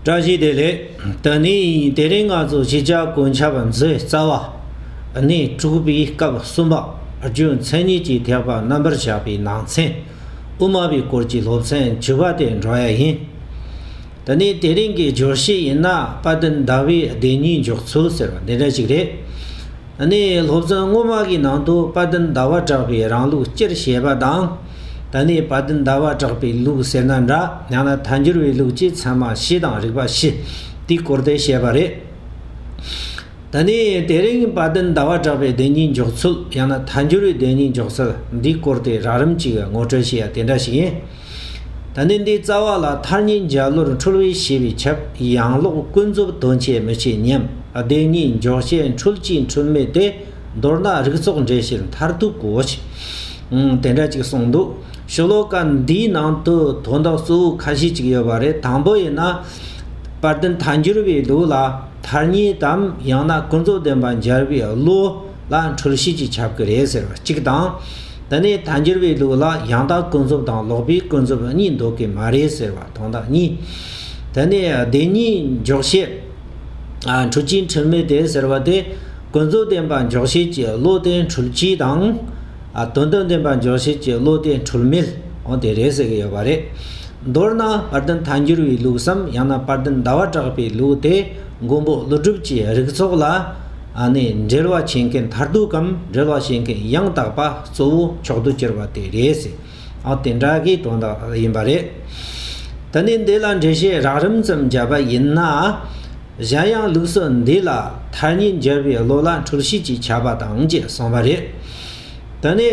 བཀྲ་ཤིས་བདེ་ལེགས། ད་ནི་དེ་རིང་ང་ཚོ་གཞིས་ཆགས་དགོན་ཆ་བ་མཛོད་རྩ་བ་ནས་དྲུག་པའི་སྐབས་གསུམ་པ་རྒྱུ་མཚན་གཉིས་ཀྱི་ཐེག་པ་རྣམ་པར་བཞག་པའི་ནང་ཚན་དབུ་མ་པའི་སྐོར་གྱི་སློབ་ཚན་བཅུ་པ་དེ་འགྲོ་ཡ་ཡིན། ད་ནི་དེ་རིང་གི་སྦྱོར་གཞི་ཡིན་ན་དཔལ་ལྡན་ཟླ་བའི་བདེན་གཉིས་འཇོག་ཚུལ་ཟེར་བ་འདི་འདྲ་ཞིག་རེད། ནས་སློབ་ཚན་སྔོན་མ་གི་ནང་དུ་དཔའ་བརྟན་ཟླ་བ་གྲགས་པའི་རང་ལུགས་སྤྱིར་བཤད་པ་དང། ད་ནས་དཔའ་བརྟན་ཟླ་བ་གྲགས་པའི་ལུགས་ཟེར་ན་འདྲ་ཡང་ན་ཐ་འགྱུར་བའི་ལུགས་ཀྱིས་ཚད་མ་བཞི་དང་རིགས་པ་བཞི་དེའི་སྐོར་དེ་བཤད་པ་རེད། ད་ནས་དེ་རིང་དཔའ་བརྟན་ཟླ་བ་གྲགས་པའི་བདེན་གཉིས་འཇོག་ཚུལ་ཡང་ན་ཐ་འགྱུར་བའི་བདེན་གཉིས་འཇོག་ཚུལ་འདིའི་སྐོར་དེ་རགས་རིམ་གཅིག་ངོ་སྤྲོད་བྱེད་ཡ་དེ་འདྲ་ཞིག་ཡིན། ད་ནི་འདིའི་རྩ་བ་ལ་མཐར་ཉིན་བརྒྱ་ལོར་འཁྲུལ་བས་ཞེས་པའི་ཁྱབ་ཡངས་ཀློག་ཀུན་རྫོབ་དོན་བྱེད་མི་བྱེད་སྙེམས་བདེན་གཉིས་འཇོག་བྱེད་འཁྲུལ་གཅིག་འཁྲུལ་མེད་དེ་མདོར་ན་རིགས་ཚོགས་འགྲེལ་བྱེད་མཐར་ཐུག་གོ། དེ་འདྲ་ཅིག་གསུངས་འདུག་ཞུ་ལོ་ཀ་འདིའི་ནང་དུ་དོན་དག་གཙོ་བོ་ཁ་ཤས་ཅིག་ཡོད་པ་རེད་དང་པོ་ཡིན་ན། པར་དེ་མཐའ་འགྱུར་བའི་ལུགས་ལ་མཐར་ཉིད་དམ་ཡང་ན་ཀུན་རྫོབ་བདེན་པ་འཇལ་བའི་བློ། ལ་འཁྲུལ་བཤད་ཅིག་ཁྱབ་ཀྱི་རེད་ཟེར་བ་གཅིག་དང། དེ་ནས་དལ་འགྱུར་བའི་ལུགས་ལ་ཡང་དག་ཀུན་རྫོབ་དང་ལོག་པའི་ཀུན་རྫོབ་གཉིས་འདོགས་ཀྱི་མ་རེད་ཟེར་བ་དང་དག་གཉིས། དེ་ནས་བདེན་གཉིས་འཇོག་བྱེད། འཁྲུལ་གྱིས་འཁྲུལ་མེད་དེ་ཟེར་བ་དེ། ཀུན་རྫོབ་བདེན་པ་འཇོག་བྱེད་ཀྱི་བློ་དེ་འཁྲུལ་གྱིས་དང། དོན་དམ་བདེན་པ་འཇོག་བྱེད་ཀྱི་བློ་དེ་འཁྲུལ་མེད་དང་དེ་རེད་ཟེར་གྱི་ཡོད་པ་རེད། མདོར་ན་དཔར་ལྡན་དལ་འགྱུར་བའི་ལུགས་སམ་ཡང་ན་དཔར་ལྡན་ཟླ་བ་གྲགས་པའི་ལུགས་དེ་མགོན་པོ་ཀླུ་སྒྲུབ་ཀྱི་རིགས་ཚོགས་ལ། ཨ་ནི་འབྲེལ་བ་བྱེད་མཁན་མཐར་ཐུག་གམ་འབྲེལ་བ་བྱེད་མཁན་ཡང་དག་པ་གཙོ་བོ་མཆོག་ཏུ་གྱུར་པ་དེ་རེད་ཟེར། ཨོ་དེ་འདྲ་གི་དོན་དག་དག་ཡིན་པ་རེད། ད་ནི་འདི་ལ་འགྲེལ་བཤད་རགས་རིམ་ཙམ་བརྒྱབ་པ་ཡིན་ན། གཞན་ཡང་ལུགས་སྲོལ་འདི་ལ་མཐར་ཉིན་བརྒྱད་པའི་ལོ་ལ་འཁྲུལ་ཤེས་ཀྱི་ཁྱབ་པ་དང་བཅས་སོང་བ་རེད། ད་ནི།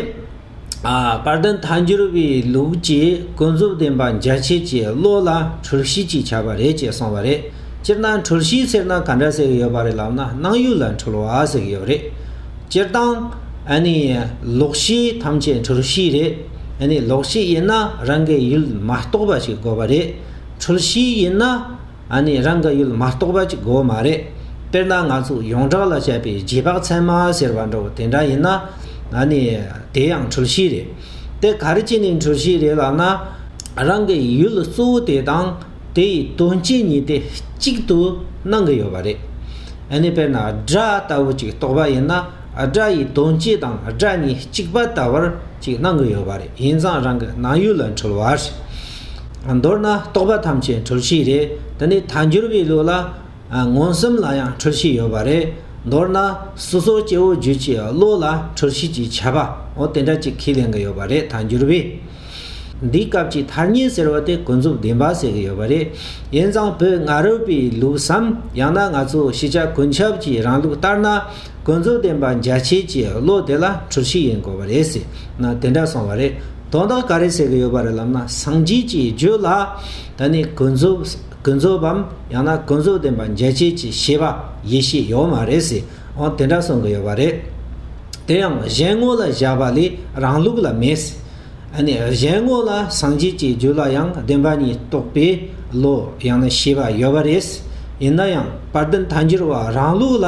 དཔལ་ལྡན་མཐའ་འགྱུར་བའི་ལུགས་ཀྱི་ཀུན་རྫོབ་བདེན་པ་འཇལ་བྱེད་ཀྱི་བློ་ལ་གྲོལ་གཞི་ཅེས་བྱ་བ་རེད་ཅེས་གསུངས་པ་རེད། སྤྱིར་ན་གྲོལ་གཞི་ཟེར་ན་ག་འདྲ་ཟེར་གྱི་ཡོད་པ་རེད་ལབ་ན་སྣང་ཡུལ་ལ་འཁྲུལ་བ་ཟེར་གྱི་ཡོད་རེད། སྤྱིར་བཏང། ལོག་གཞི་ཐམས་ཅད་གྲོལ་གཞི་རེད། ལོག་གཞི་ཡིན་ན་རང་གི་ཡུལ་མ་རྟོགས་པ་ཞིག་དགོས་པ་རེད། གྲོལ་གཞི་ཡིན་ན། ཨ་ནི་རང་གི་ཡུལ་མ་གཏོགས་པ་གཅིག་དགོས་མ་རེད། དཔེར་ན་ང་ཚོ་ཡོངས་གྲགས་ལ་བཤད་པའི་རྗེས་དཔག་ཚད་མ་ཟེར་བ་འདྲ་བོ་དེ་འདྲ་ཡིན་ན། ཨ་ནི་དེ་ཡང་འཁྲུལ་གཞི་རེད། དེ་ག་རེ་བྱས་ནས་འཁྲུལ་གཞི་རེད་ལབ་ན། རང་གི་ཡུལ་གཙོ་བོ་དེ་དང་དེ་ཡི་དོན་སྤྱི་གཉིས་དེ་གཅིག་ཏུ་སྣང་གི་ཡོད་པ་རེད། ཨ་ནི་དཔེར་ན་སྒྲ་ལྟ་བུ་གཅིག་གཏོགས་པ་ཡིན་ན་སྒྲ་ཡི་དོན་སྤྱི་དང་སྒྲ་གཉིས་གཅིག་པ་ལྟ་བུར་གཅིག་སྣང་གི་ཡོད་པ་རེད་ཡིན་ཙང་རང་གི་སྣང་ཡུལ་ལ་འཁྲུལ་བ་རེད། མདོར་ན་རྟོག་པ་ཐམས་ཅད་འཁྲུལ་གཞི་རེད་དེ་ནི་ཐལ་འགྱུར་བའི་ལུགས་ལ། མངོན་སུམ་ལ་ཡང་འཁྲུལ་གཞི་ཡོད་པ་རེད། མདོར་ན་སོ་སོ་སྐྱེ་བོ་རྒྱུད་ཀྱི་བློ་ལ་འཁྲུལ་གཞི་ཅེས་བྱ་བ་འོ་དེ་འདྲ་གཅིག་ཁས་ལེན་གྱི་ཡོད་པ་རེད་ཐལ་འགྱུར་བས། འདིའི་སྐབས་ཀྱི་ཐལ་སྙན་ཟེར་བ་དེ་ཀུན་རྫོབ་བདེན་པ་ཟེར་གྱི་ཡོད་པ་རེད། ཡིན་ཙང་བོད་ང་རོས་པའི་ལུགས་སམ་ཡང་ན་ང་ཚོ་ཤེས་བྱ་ཀུན་ཁྱབ་ཀྱི་རང་ལུགས་ལྟར་ན་ཀུན་རྫོབ་བདེན་པ་འཇལ་བྱེད་ཀྱི་བློ་དེ་ལ་འཁྲུལ་གཞི་ཡིན་དགོས་པ་རེད་ཟེར་ན་དེ་འདྲ་སོང་བ་རེད། དོན་དག་ག་རེ་ཟེར་གྱི་ཡོད་པ་རེད་ལབ་ན་སངས་རྒྱས་ཀྱི་རྒྱུད་ལ་ད་ནི་ཀུན་རྫོབ་ཀུན་རྫོབ་བམ་ཡང་ན་ཀུན་རྫོབ་བདེན་པ་འཇལ་བྱེད་ཀྱི་ཤེས་པ་ཡེ་ཤེས་ཡོད་མ་རེད་ཟེར་འོང་དེ་འདྲ་གསུང་གི་ཡོད་པ་རེད། དེ་ཡང་གཞན་དངོས་ལ་བཞག་པ་ལས་རང་ལུགས་ལ་མེད། ཨ་ནི་གཞན་དངོས་ལ་སངས་རྒྱས་ཀྱི་རྒྱུད་ལ་ཡང་བདེན་པ་ཉིད་རྟོགས་པའི་བློ་ཡང་ན་ཤེས་པ་ཡོད་པ་རེད། ཡིན་ན་ཡང་དཔལ་ལྡན་མཐའ་འགྱུར་བ་རང་ལུགས་ལ་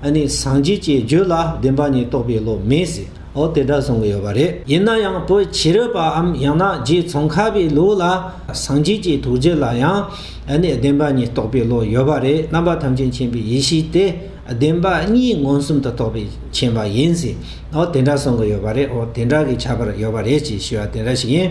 ཨ་ནི་སངས་རྒྱས་ཀྱི་རྒྱུད་ལ་བདེན་པ་ཉིད་རྟོགས་པའི་བློ་མེད་ཟེར། འོ་དེ་འདྲ་གསུང་གི་ཡོད་པ་རེད། ཡིན་ན་ཡང་བོད་ཕྱི་རོལ་པའམ་ཡང་ན་རྗེ་ཙོང་ཁ་པའི་ལུགས་ལ་སངས་རྒྱས་ཀྱི་ཐུགས་རྗེ་ལ་ཡང་ཨ་ནི་བདེན་པ་ཉིད་རྟོགས་པའི་བློ་ཡོད་པ་རེད་རྣམ་པ་ཐམས་ཅད་མཁྱེན་པའི་ཡེ་ཤེས་དེ་བདེན་པ་གཉིས་མངོན་སུམ་དུ་རྟོགས་པའི་མཁྱེན་པ་ཡིན་ཟེར་འོ་དེ་འདྲ་གསུང་གི་ཡོད་པ་རེད་འོ་དེ་འདྲ་གི་ཁྱད་པར་ཡོད་པ་རེད་ཅེས་ཞུ་བ་དེ་འདྲ་ཞིག་ཡིན།